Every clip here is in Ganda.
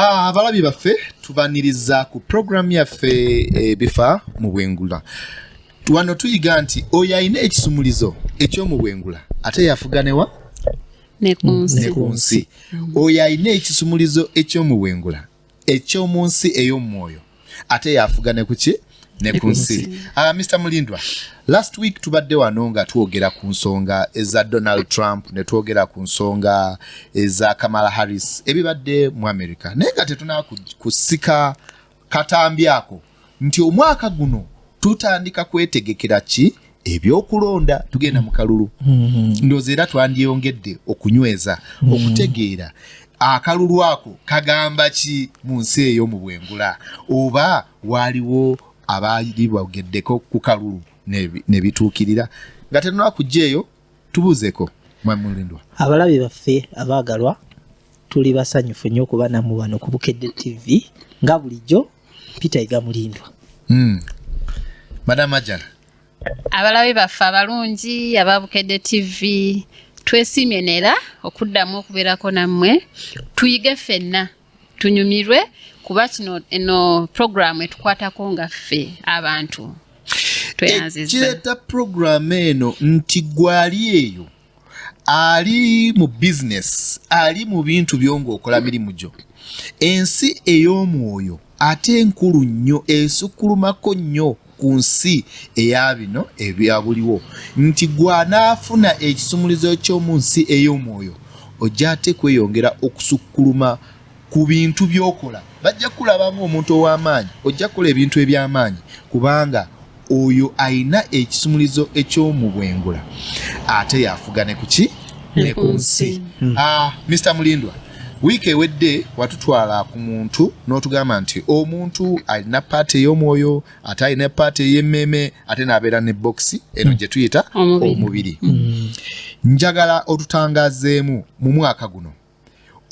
Ah, abalabi baffe tubaniriza ku puroguramu yaffe ebifa eh, mu bwengula wano tuyiga nti oyo alina ekisumulizo eky'omubwengula ate yafuganewa ne ku nsi oyo alina ekisumulizo eky'omubwengula eky'omu nsi ey'omwoyo ate yafuga ne kuki ne ku nsi uh, ah, mr mulindwa last week tubadde wano nga twogera ku nsonga eza donald trump ne twogera ku nsonga eza kamala harris ebibadde mu america naye nga tetunakusika katambi ako nti omwaka guno tutandika kwetegekera ki ebyokulonda tugenda mu kalulu mm-hmm. ndoozi era twandyeyongedde okunyweza mm-hmm. okutegeera akalulu ako kagamba ki mu nsi eyo mu bwengula oba waaliwo abaali bogeddeko ku kalulu ne bituukirira nga tenonakujja eyo tubuuzeko mwami mulindwa abalabi baffe abaagalwa tuli basanyufu nnyo okuba namu wano ku bukedde tv nga bulijjo peter iga mulindwa hmm. madam ajala abalabi baffe abalungi aba bukedde tv twesiimye neera okuddamu okubeerako nammwe tuyige ffenna tunyumirwe kuba kino eno puroguramu etukwatako nga ffe abantu tweyanzizakireta eh, puroguramu eno nti gwali eyo ali mu bizinesi ali mu bintu byo ngaokola mirimu gyo ensi ey'omwoyo ate enkulu nnyo esukkulumako nnyo ku nsi eya bino ebyabuliwo nti gw'anaafuna ekisumulizo ky'omu nsi ey'omwoyo ojja ate kweyongera okusukkuluma ku bintu by'okola bajja kukulaba ng'omuntu ow'amaanyi ojja kukola ebintu eby'amaanyi kubanga oyo alina ekisumulizo eky'omu bwengula ate yafuga ne kuki ne ku nsi mr ah, mulindwa wiiki ewedde watutwala ku muntu n'otugamba nti omuntu alina paati ey'omwoyo ate alina paati ey'emmeeme ate n'abeera ne bokisi eno gye tuyita omubiri mm. njagala otutangazeemu mu mwaka guno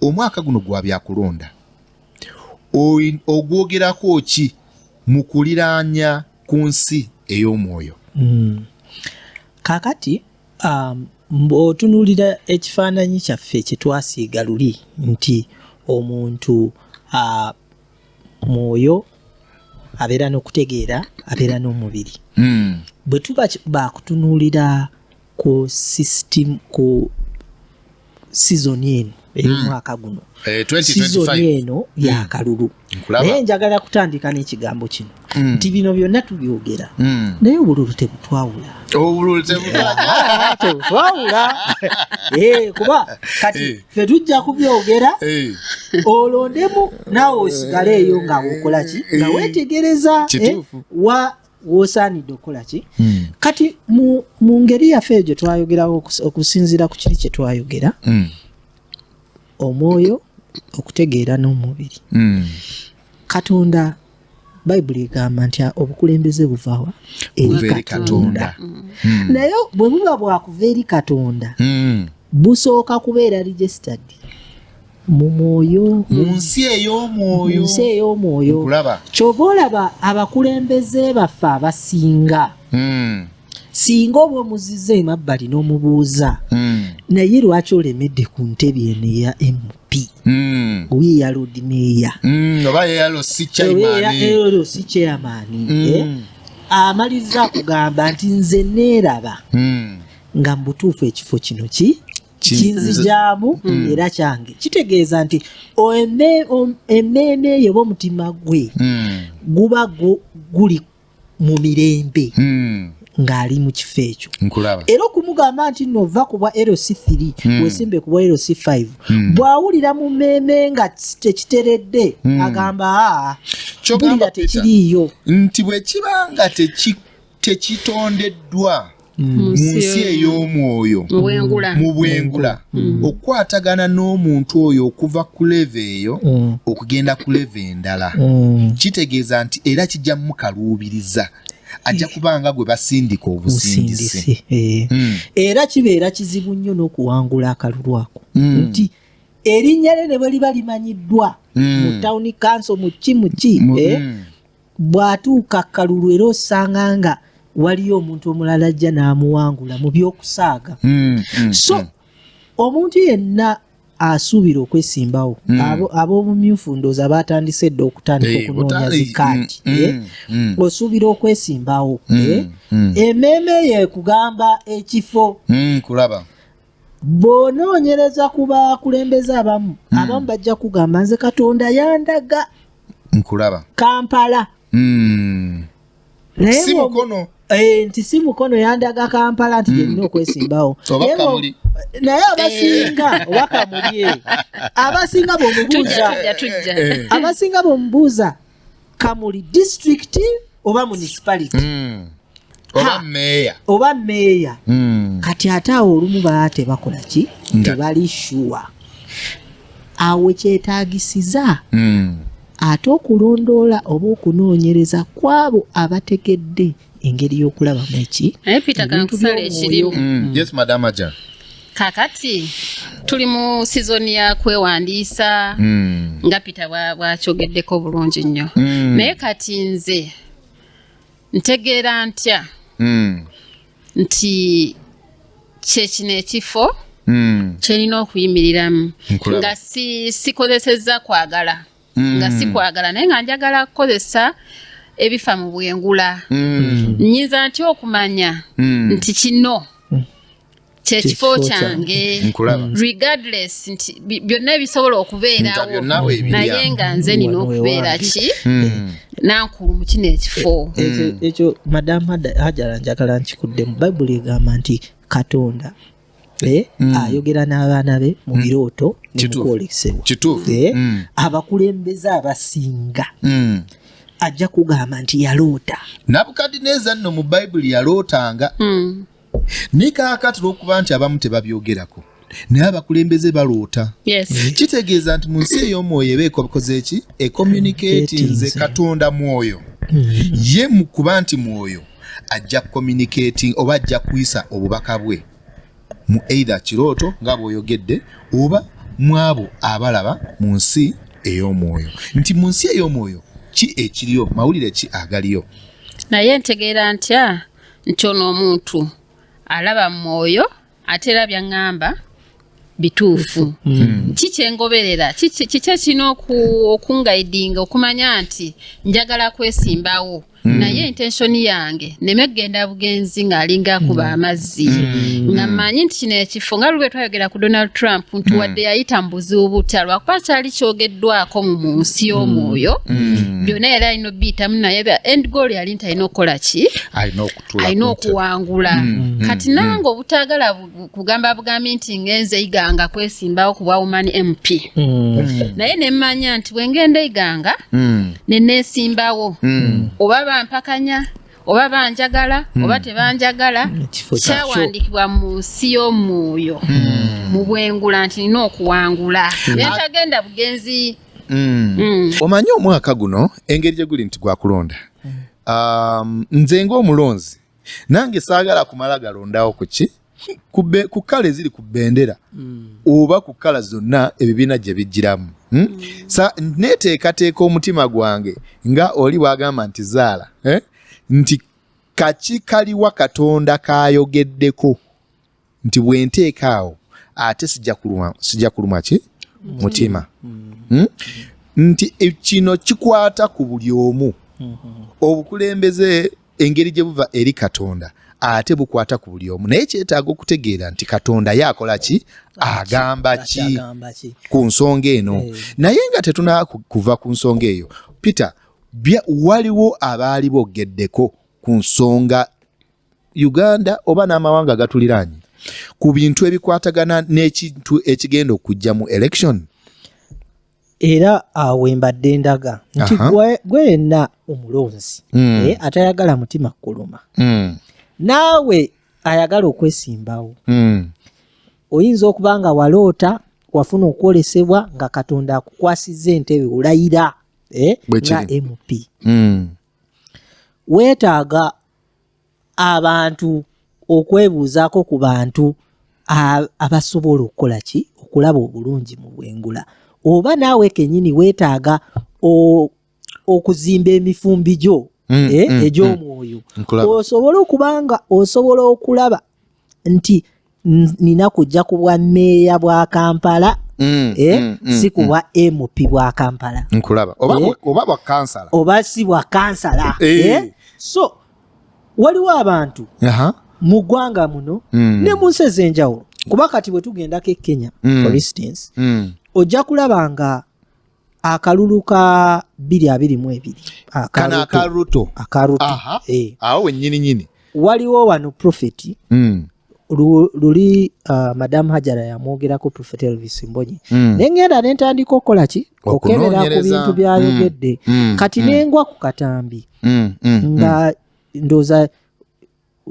omwaka guno gwa byakulonda ogwogerako ki mu kuliraanya ku nsi ey'omwoyo mm. kakati Um, bw'otunuulira ekifaananyi kyaffe kye twasiiga luli nti omuntu uh, mwoyo abeera n'okutegeera abeera n'omubiri mm. bwe tuba bakutunuulira ku system ku sizoni eno ey'omwaka hmm. guno eh, sizoni eno yakalulu hmm. naye njagala kutandika n'ekigambo kino hmm. nti bino byonna tubyogera naye obululu tebutwawula tebutwawula eh, kuba kati eh. fe tujja kubyogera olondemu naawe osigaleeyo nga wokolaki nga wetegereza wa wosaanidde okukola ki hmm. kati mu ngeri yaffe egyo twayogerawo okusinziira ku kiri kye twayogera hmm. omwoyo okutegeera n'omubiri hmm. katonda bayibuli egamba nti obukulembeze buvawa eri katonda naye bwe buba bwakuva eri katonda busooka kubeera registered mu mwoyo mu hmm. nsi ey'omwoyo nsi ey'omwoyo kyova olaba abakulembeze baffe abasinga hmm. singa oba omuziza emabbali n'omubuuza hmm. naye lwaki olemedde ku ntebe eno eya mp oyo eya lodi meeya oba eyalo si chairmani eh? amaliza kugamba nti nze neeraba nga mubutuufu ekifo kino ki kinzijaamu hmm. era kyange kitegeeza nti emmeeme eyo oba omutima gwe hmm. guba guli mu mirembe hmm. ng'ali mu kifo ekyo era okumugamba nti no ova ku bwa lc 3 hmm. wesimbe ku bwa lc 5 hmm. bw'awulira mu mmeeme nga tekiteredde hmm. agamba aa ah, bulira tekiriiyo nti bwe kiba nga tekikko tekitondeddwa mu nsi ey'omwoyo mu bwengula okukwatagana n'omuntu oyo okuva ku leva eyo okugenda ku leva endala kitegeeza nti era kijja mukaluubiriza ajja kubanga gwe basindika obusindisi eh. hmm. era kibeera kizibu nnyo n'okuwangula akalulu ako hmm. nti erinnya lye ne bwe liba limanyiddwa hmm. mu tawuni kanso mu ki mu ki eh? bw'atuuka akalulu era osanga nga waliyo omuntu omulala ajja n'amuwangula mu by'okusaaga mm, mm, so mm. omuntu yenna asuubira okwesimbawo mm. ab'obumyufu abo ndooza baatandise edda okutandika hey, eh, okunoonya zikaati mm, mm, eh? mm. osuubira okwesimbawo mm, eh? mm. emeeme yo ekugamba ekifo mm, kulaba bw'onoonyereza ku bakulembeze abamu hmm. abamu bajja kugamba nze katonda yandaga nkulaba kampala hmm. si mukono eh, nti si mukono yandaga kampala nti gyerina hmm. okwesimbawo naye abasinga eh. oba kamuli abasinga bwomubuuza eh. abasinga bwomubuuza kamuli district oba municipality mm. oba meeya oba meeya mm. kati ate awo olumu baa tebakola ki tebali shuwa awo kyetagisiza mm. ate okulondoola oba okunoonyereza kwabo abategedde engeri y'okulabamu eki naye peter kankusala ekirimu mm. yes madam ajan kakati tuli mu sizoni ya kwewandiisa mm. nga peter bwakyogeddeko bulungi nnyo mm. naye kati nze ntegeera ntya mm. nti kyekino ekifo mm. kyerina okuyimiriramu nga sikozesezza si kwagala mm. nga sikwagala naye nga njagala kukozesa ebifa mu bwengula mm. nyinza ntya okumanya mm. nti kino kyekifo kyange mm. regardless nti byonna ebisobola okubeerawo naye nga nze nina okubeera ki hmm. nankulu mu kino ekifo e, e, hmm. ekyo madamu hajara njagala nkikuddemu bayibuli egamba nti katonda Eh, mm. ayogera n'abaana be mu mm. birooto nemukwolesebwa eh, mm. abakulembeze abasinga ajja kugamba nti yaloota nabukadineeza nno mu bayibuli yalootanga nikaakatira okuba nti abamu tebabyogerako naye abakulembeze baloota eh? kitegeeza nti mu nsi ey'omwoyo eba ekokoze ki ekommunikatinze katonda mwoyo ye mu kuba nti mwoyo ajja communicating oba ajja kuyisa obubaka bwe mu either kirooto nga bwoyogedde oba mwabo abalaba mu nsi ey'omwoyo nti mu nsi ey'omwoyo ki ekiriyo mawulire ki agaliyo naye ntegeera ntya nti ono omuntu alaba mwoyo ate era byaŋŋamba bituufu hmm. Hmm. ki kyengoberera kiki ekirina okungaidinga okumanya nti njagala kwesimbawo hmm. naye intensioni yange neme kugenda bugenzi ng'alinga kuba amazzi nga manyi nti kino ekifo nga lulwe twayogera ku donald trump nti wadde yayita mu buzibu butya lwakuba kyali kyogeddwako mu nsi y'omwoyo byonna yali alina obiyitamu naye end goal yali nti alina okukola ki alina okuwangula mm. Mm. kati mm. nange obutagala kugamba bugambi nti ngenze iganga kwesimbawo kubwa woman mp naye nemmanya nti bwengenda iganga nenesimbawo oba bampakanya oba banjagala oba tebanjagala kyawandikibwa mu nsi y'omwoyo mu bwengula nti nina okuwangula naye tagenda bugenzi omanyi omwaka guno engeri gye guli nti gwakulonda Um, nze ng'omulonzi nange saagala kumala galondawo ku ki ku kkala eziri ku bendera hmm. oba ku kkala zonna ebibiina gye bijjiramu hmm? Hmm. sa neteekateeka omutima gwange nga oli bwagamba nti zaala eh? nti kaki kaliwa katonda kayogeddeko nti bwenteeka awo ate sija kulumwa ki mutima mm. hmm? nti e, kino kikwata ku buli omu mm-hmm. obukulembeze engeri gye buva eri katonda ate bukwata ku buli omu naye kyetaaga okutegeera nti katonda ye akola ki agamba ki ku nsonga eno eh. naye nga tetuna kuva ku nsonga eyo peter waliwo abaali bogeddeko ku nsonga Uganda oba n'amawanga agatuliraanye ku bintu ebikwatagana n'ekintu ekigenda okujja mu election era awo embadde ndaga nti gwe yenna omulonzi hmm. eh, atayagala mutima kukuluma hmm. naawe ayagala okwesimbawo hmm. oyinza okuba nga waloota wafuna okwolesebwa nga katonda akukwasiza entebe olayira eh, nga mp weetaaga abantu okwebuuzaako ku bantu abasobola okukola ki okulaba obulungi mu bwengula oba naawe kenyini weetaaga okuzimba emifumbi gyo mm, eh, mm, mm. egy'omwoyo osobole okuba nga osobola okulaba nti nina kujja ku bwa meeya bwa kampala Mm, eh, mm, mm, si kuwa mm. mp bwa kampala nkulaba oba, eh, oba bwa kansala oba si bwa kansala eh. Eh? so waliwo abantu uh -huh. mu ggwanga muno mm. ne mu nsi ez'enjawulo kuba kati bwe tugendako e kenya mm. for instance mm. ojja kulaba nga akalulu ka biri abiri mu ebiri kana akaruto akaruto aha eh. awo wenyini nyini waliwo wano profeti mm. luli uh, madamu hajara yamwogerako profeti elvis mbonyi mm. nengenda nentandika okukola ki okukebera ku bintu byayogedde mm. mm. kati mm. nengwa ku katambi mm. mm. nga mm. ndoza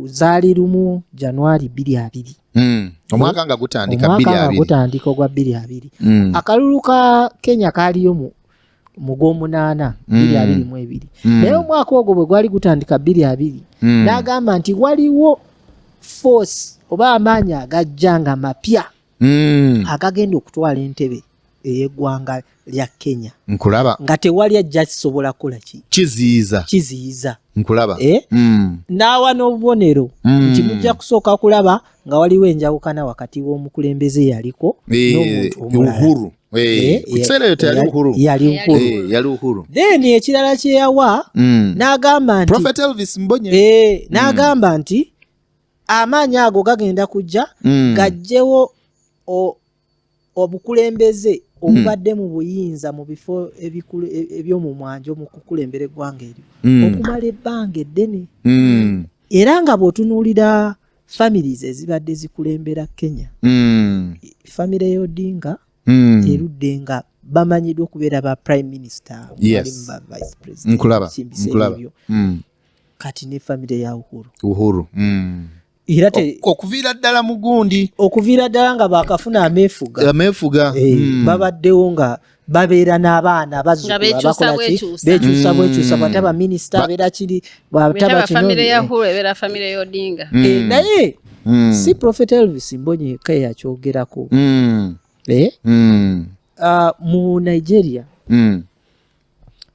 zaali lumu januari bbiri abiri hmm. omwaka nga gutandika ogwa bbiri abiri hmm. akalulu ka kenya kaaliyo mu mu gwomunaana hmm. bbiri abiri mu ebiri naye omwaka ogwo bwe gwali gutandika bbiri abiri n'agamba nti waliwo force oba amaanyi agajja nga mapya mm. agagenda okutwala entebe eyegwanga lya kenya nkulaba nga tewali ajja kisobola kukola ki kiziyiza kiziyiza nkulaba eh? mm. naawa n'obubonero mm. nti mujja kusooka kulaba nga waliwo enjawukana wakati w'omukulembeze yaliko eh, n'omuntu omulala Eh, then ekirala kyeyawa mm. n'agamba nti mm. eh, n'agamba nti amaanyi ago gagenda kujja mm. gajjewo obukulembeze mm. obubadde mu buyinza mu bifo e, ebyomumwanja omukukulembera eggwanga eryo mm. okumala ebbanga eddene mm. era nga bwotunuulira families ezibadde zikulembera kenya mm. famire yodinga mm. erudde nga bamanyiddwa okubeera ba prime minister yes. ba vice president nkulaba nkulaba mm. kati ne famire ya uhuru uhuru mm. era te okuviira ddala mugundi okuviira ddala nga bakafuna amefuga amefuga hey, eh, mm. babaddewo nga babeera n'abaana bazukuabakolaki bekyusa bwekyusa mm. bwata baminisita abeera kiri bwatabakinnaye si profet elvis mbonye eka yakyogerako mm. eh? mm. uh, mu nigeria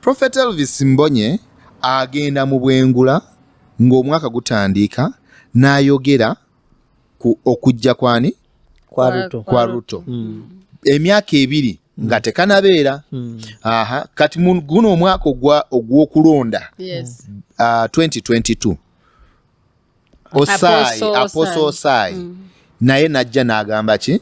Prophet Elvis Mbonye agenda mu bwengula ng'omwaka gutandiika n'ayogera ku okujja kwani kwa Ruto hmm. emyaka ebiri hmm. nga tekanabeera hmm. aha kati guno omwaka ogw'okulonda 2022 osaayi aposa osaayi mm. naye najja n'agamba ki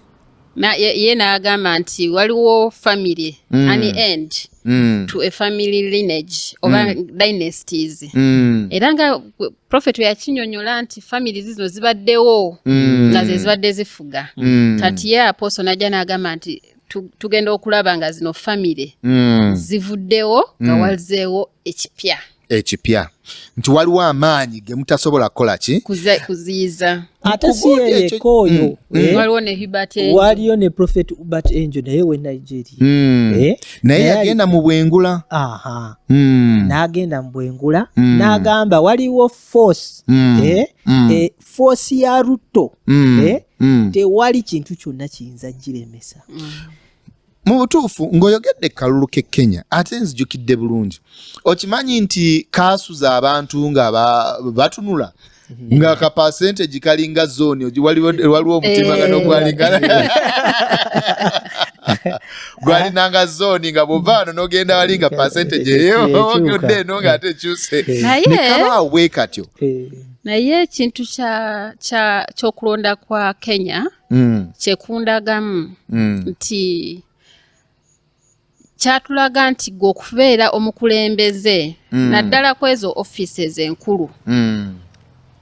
ye n'agamba nti waliwo family mm. an end mm. to a family lineage oba mm. dynasties mm. era nga prophet yakinyonyola nti family zino zibaddewo mm. nga ze zibadde zifuga mm. kati ye aposo najja n'agamba nti tugenda okulaba nga zino famire mm. zivuddewo nga mm. wazeewo ekipya ekipya nti waliwo amaanyi ge mutasobola kukola ki kuziyiza ate si yeyeka oyo mm, mm. Eh? waliwo ne hubert angel waliyo ne prophet hubert angel naye we nigeria mm. eh? naye yagenda mu bwengula aha mm. n'agenda mu bwengula mm. n'agamba waliwo force mm. eh? mm. eh, force ya rutto mm. eh? mm. tewali kintu kyonna kiyinza giremesa mm. mu butuufu ng'oyogedde kalulu ke kenya ate nzijukidde bulungi okimanyi nti kaasuza abantu nga batunula mhm. nga ka percentage kalinga zoni waliwo omutimagano eh. gwalinga gwalinanga zoni nga buvaano nogenda wali nga percentage eyoodde eno nga ate ekyuse nekabaawo bwekatyo eh. naye ekintu kyokulonda kwa kenya mm. kyekundagamu mm. nti kyatulaga nti gwe okubeera omukulembeze mm. naddala ku ezo offices enkulu mm.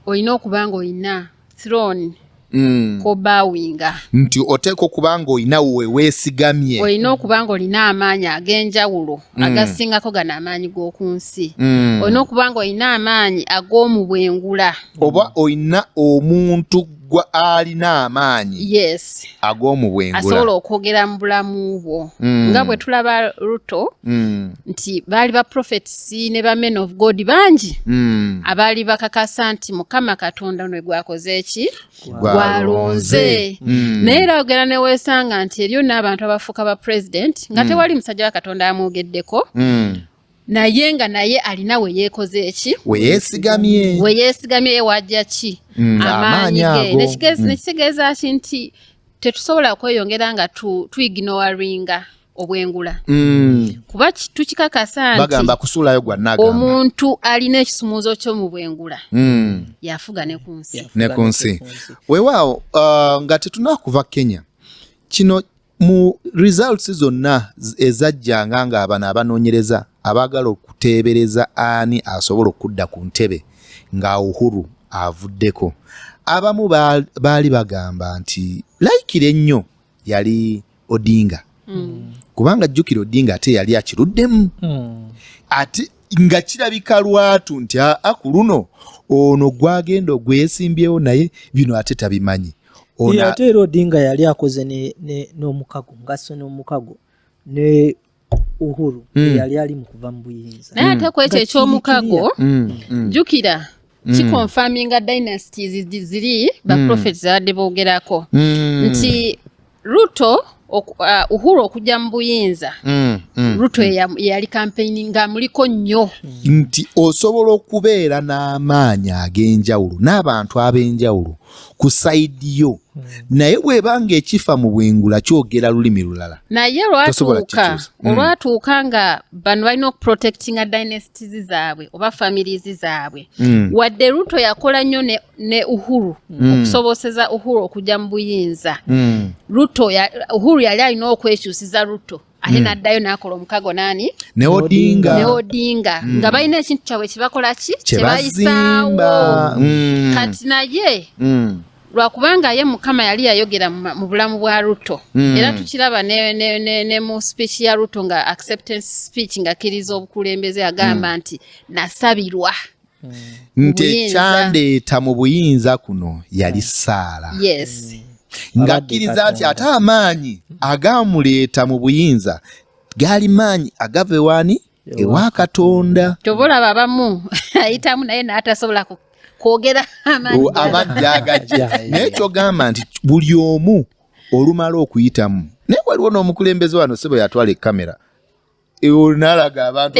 olina okuba nga olina throne mm. kobawinga nti oteeka okuba nga olina weweesigamye olina okuba nga olina amaanyi ag'enjawulo mm. agasingako gano amaanyi g'oku nsi mm. olina okuba nga olina amaanyi ag'omu bwengula oba olina omuntu gwa alina amaanyi yes. ag'omu bwengula asobola okwogera mu bulamu bwo mm. nga bwe tulaba ruto mm. nti baali ba prophets ne ba men of god bangi mm. abaali bakakasa nti mukama katonda nwe gwakoze eki gwalonze mm. naye era ogera neweesanga nti eriyo n'abantu abafuuka ba president nga mm. tewali musajja wa katonda amwogeddeko mm. naye nga naye alina weyekoze eki weyesigamye weyesigamye ewajja ki mm, amaanyi ge mm. nekitegeeza ki nti tetusobola kweyongera nga tuignoringa obwengula mm. kuba tukikakasa ntibagamba kusuulayo gwa nagamba omuntu alina ekisumuuzo kyo mu bwengula mm. yafuga ne ku nsi ne ku nsi wewaawo uh, nga tetunakuva kenya kino mu results zonna ezajjanga nga abano abanoonyereza abaagala okuteebereza ani asobola okudda ku ntebe nga uhuru avuddeko abamu baali bagamba nti layikira ennyo yali odinga hmm. kubanga jjukira odinga ate yali akiruddemu hmm. ate nga kirabika lwatu nti aa ku luno ono gwagenda ogwesimbyewo naye bino ate tabimanyi ate era odinga yali akoze n'omukago ngasse n'omukago ne uhuru mm. yali ali mu kuva mu buyinza naye ate mm. kwekyo ekyomukago mm, mm. jukira Mm. kiconfirminga dynasties ziri baprofet mm. zabadde boogerako mm. nti ruto uh, uhuru okujja mu buyinza ruto yeyali kampeyini nga muliko nnyo nti osobola okubeera n'amaanyi ag'enjawulo n'abantu ab'enjawulo ku sayidi yo hmm. naye bweba nga ekifa mu bwengula kyogera lulimi lulala naye lwatuuka hmm. olwatuuka nga bano balina okuprotectinga dynasties zaabwe oba families zaabwe hmm. wadde ruto yakola nnyo ne, ne uhuru okusoboseza uhuru okujja mu buyinza ruto ya, uhuru yali alina okwekyusiza ruto ate mm. n'addayo n'akola omukago naani ne odinga ne odinga mm. nga balina ekintu kyabwe kyebakola ki kyebayisaawo mm. kati naye mm. lwakubanga ye mukama yali yayogera mu bulamu bwa ruto mm. era tukiraba ne, ne, ne, ne mu speech ya ruto nga acceptance speech nga kiriza obukulembeze agamba mm. nti nasabirwa nti ekyandeeta mu buyinza kuno yali saala ng'akkiriza nti ate amaanyi agaamuleeta mu buyinza gaali maanyi agava ewaani ewa katonda kyova olaba abamu ayitamu naye n'atasobola kwogera amaanyi agajja naye kyogamba nti buli omu olumala okuyitamu naye waliwo n'omukulembeze wano sebo yatwala ekamera nalaga abantu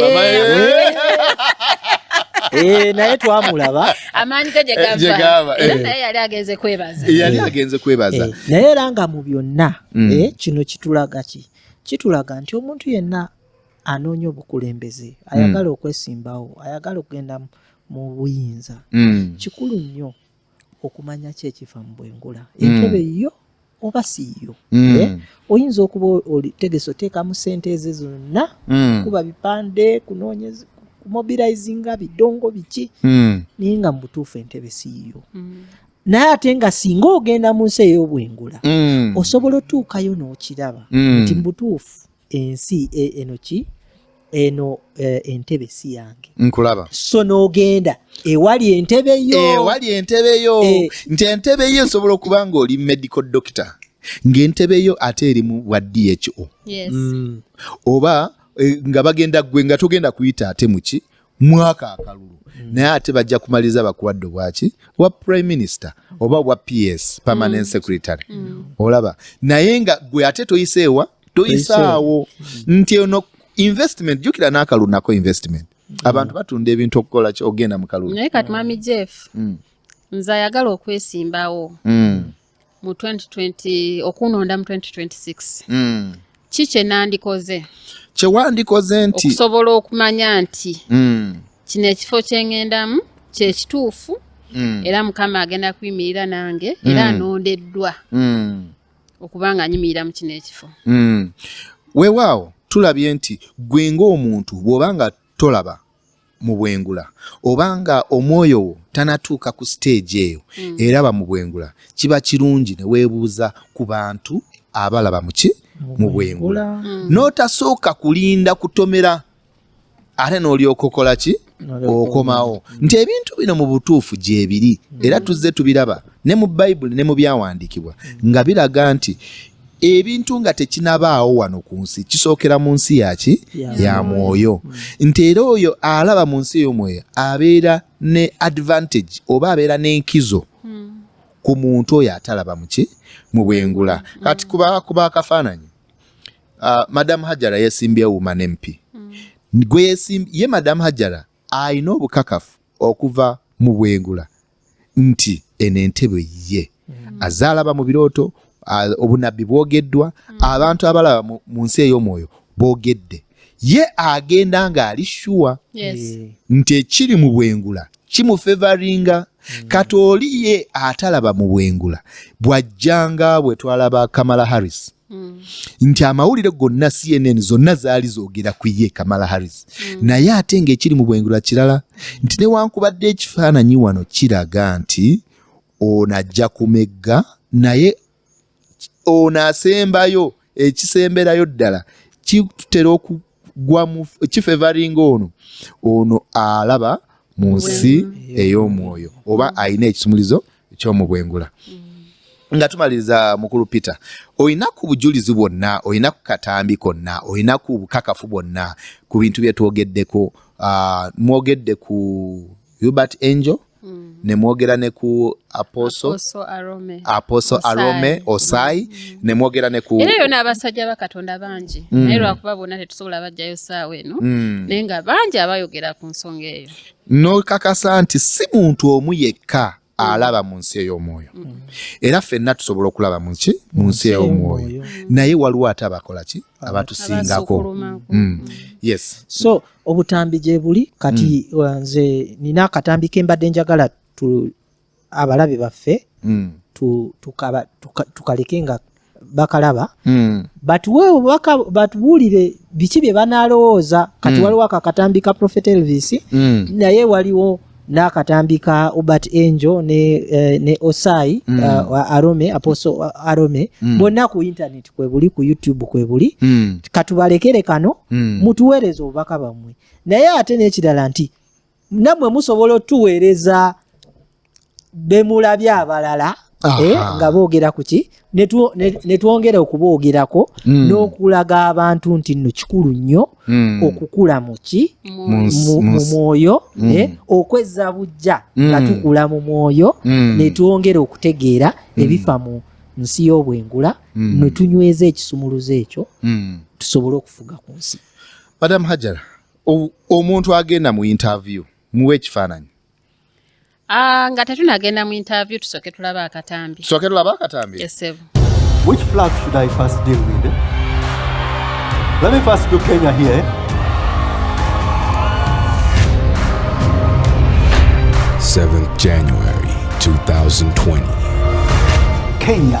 Eh, naye twamulaba amaanyi ge gyegava eh, eh. naye yali agenze kwebaza yali agenze kwebaza naye era nga mu byonna mm. kino kitulaga ki kitulaga nti omuntu yenna anoonya obukulembeze mm. ayagala okwesimbawo ayagala okugenda mu buyinza mm. kikulu nnyo okumanya ki ekifa mu bwengula hmm. entebe yo oba si yo hmm. eh? oyinza okuba otegese oteekamu sente ezo zonna hmm. kuba bipande kunoonyeza kumobilizinga bidongo biki naye nga mubutuufu entebe siiyo naye ate nga singa ogenda mu nsi ey'obwengula osobola otuukayo n'okiraba nti mubutuufu ensi e, eno ki eno eh, entebe si yange nkulaba so n'ogenda ewali entebe yo ewali entebe yo eh. nti entebe yo esobola okuba ng'oli medical doctor ng'entebe yo ate eri mu bwa dho mm. oba eh, nga bagenda gwe nga togenda kuyita ate muki mwaka akalulu mm. naye ate bajja kumaliza bakuwadde obwaki wa prime minister oba obwa ps permanent mm. secretary olaba naye nga gwe ate toyiseewa toyisaawo nti eno investment jukira n'akalunako investment mm. abantu batunda ebintu okukola ogenda mu kalulu naye kati mami jeff mm. nze ayagala okwesimbawo mm. mu 2020 okunonda mu 2026 mm. ki kyenandikoze kyewandikoze nti okusobola okumanya nti mm. kino ekifo kyengendamu kyekituufu mm. era mukama agenda kuyimirira nange era mm. anondeddwa mm. okuba nga anyimirira mu kino ekifo mm. weewaawo tulabye nti gwe ng'omuntu bw'oba nga tolaba mu bwengula oba nga omwoyo wo tanatuuka ku siteegi eyo mm. eraba mu bwengula kiba kirungi ne weebuuza ku bantu abalaba muki mu bwengula mm. n'otasooka kulinda kutomera ate n'olyoka okola ki okomawo nti ebintu bino mu butuufu gyebiri era tuzze tubiraba ne mu bayibuli ne mu byawandiikibwa nga biraga nti ebintu nga tekinabaawo wano ku nsi kisookera mu nsi yaki ya mwoyo nti era oyo alaba mu nsi ey'omwoyo abeera ne advantage oba abeera n'enkizo hmm. ku muntu oyo atalaba muki mu bwengula kati kuba akafaananyi uh, madam hajara yesimbye woman mp mm. gweyesimbye ye madam hajara alina obukakafu okuva mu bwengula nti eno entebe ye mm. azaalaba mu birooto obunabbi bwogeddwa mm. abantu abalaba mu nsi ey'omwoyo boogedde ye agenda ng'ali shuwa eh. nti ekiri mu bwengula kimufevaringa mm. kati oli ye atalaba mu bwengula bw'ajjanga bwe twalaba kamala harris Mm. nti amawulire gonna cnn zonna zaali zogera ku ye kamala harris mm. naye ate ngaekiri mu bwengula kirala nti newankubadde ekifaananyi wano kiraga nti ono ajja kumegga naye ono asembayo ekisemberayo ddala kitera gwa kifevaringa ono ono alaba mu nsi ey'omwoyo oba alina ekisumulizo eky'omubwengula mm. nga tumaliriza mukulu peter olina ku bujulizi bwonna olina ku katambi konna olina ku bukakafu bwonna ku bintu byetwogeddeko ah, mwogedde ku hubert angel mm. nemwogera ne ku aposo aposo arome osai mm. mm. nemwogera ne ku era yona abasajja bakatonda bangi mm. naye lwakuba bona tetusobola bajjayo saawa eno mm. naye nga bangi abayogera ku nsonga eyo nokakasa nti si muntu omu yekka alaba mu nsi ey'omwoyo era ffenna tusobola okulaba muki mu nsi ey'omwoyo naye waliwo ate abakola ki abatusingako mm. yes so obutambi gye buli kati mm. uh, nze nina akatambi ke mbadde njagala abalabe baffe mm. tukaleke nga bakalaba hmm. batuwe obubaka batubuulire biki bye banaalowooza kati hmm. waliwo ako akatambi ka profet elvis hmm. naye waliwo n'akatambi ka obert angel ne, eh, ne osai mm. uh, arome apostle uh, arome mm. bonna ku intaneti kwebuli ku youtube kwebuli mm. katubalekere kano mm. mutuweereze obubaka bwammwe naye ate n'ekirala nti namwe musobola otuweereza bemulabye abalala eh, nga boogera ku ki ne twongera okuboogerako hmm. n'okulaga abantu nti nno kikulu nnyo hmm. okukula muki mu mwoyo hmm. eh, okwezza bujja nga tukula mu mwoyo ne twongera okutegeera ebifa mu nsi y'obwengula ne tunyweza ekisumuluzo ekyo tusobole okufuga ku nsi madamu hajara omuntu agenda mu interview muwe ekifaananyi ah, nga tetunagenda mu interview tusooke tulaba akatambi tusooke tulaba akatambi esebo which flag should i first deal with eh? let me first do kenya here eh? Seventh January 2020. Kenya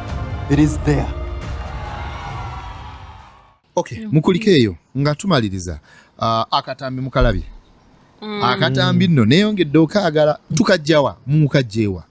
It is there. Okay, mm-hmm. mukulika eyo nga tumaliriza uh, akatambi mukalabye mm. akatambi nno neyongedde okaagala tukajjawa mukajjeewa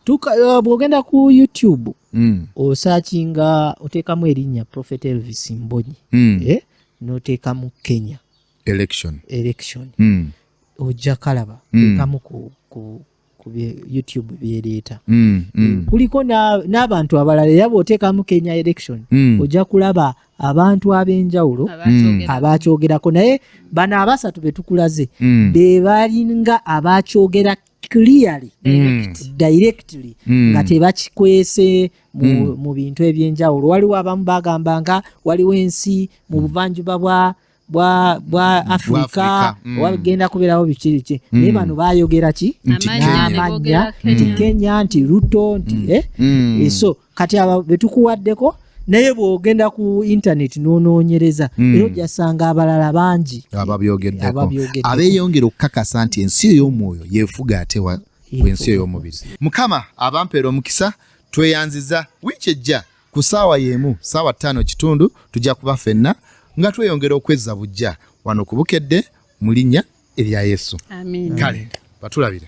uh, bwogenda ku youtube mm. osakinga oteekamu erinnya prophet elvis mbonyi mm. eh? noteekamu kenya election, election. Mm. ojja kalaba mm. teekamu ku, ku, ku youtube byeleeta mm, mm. kuliko n'abantu na abalala era bw'oteekamu kenya election mm. ojja kulaba abantu ab'enjawulo mm. abakyogerako naye bano abasatu be tukulaze mm. be balinga abakyogera clearly mm. directly mm. nga tebakikwese mu, mm. mu bintu eby'enjawulo waliwo abamu bagamba nga waliwo ensi mu buvanjuba bwa bwa bwa afrika mm. wagenda kubeerawo biki biki mm. naye bano bayogera ki n'amannya nti kenya nti ruto nti mm. eh? mm. Eh, so kati aba betukuwaddeko naye bwogenda ku internet nonoonyereza mm. era ojasanga abalala bangi ababyogeddeko abeyongera okukakasa nti ensi ey'omwoyo yefuga atewa ku ensi ey'omubiri mukama abampeera omukisa tweyanziza wiiki ejja Ku ssaawa y'emu, ssaawa ttaano kitundu, tujja kuba fenna nga tweyongera okwezza bujja wano ku Bukedde mu linnya erya Yesu. Amiina. Kale batulabire.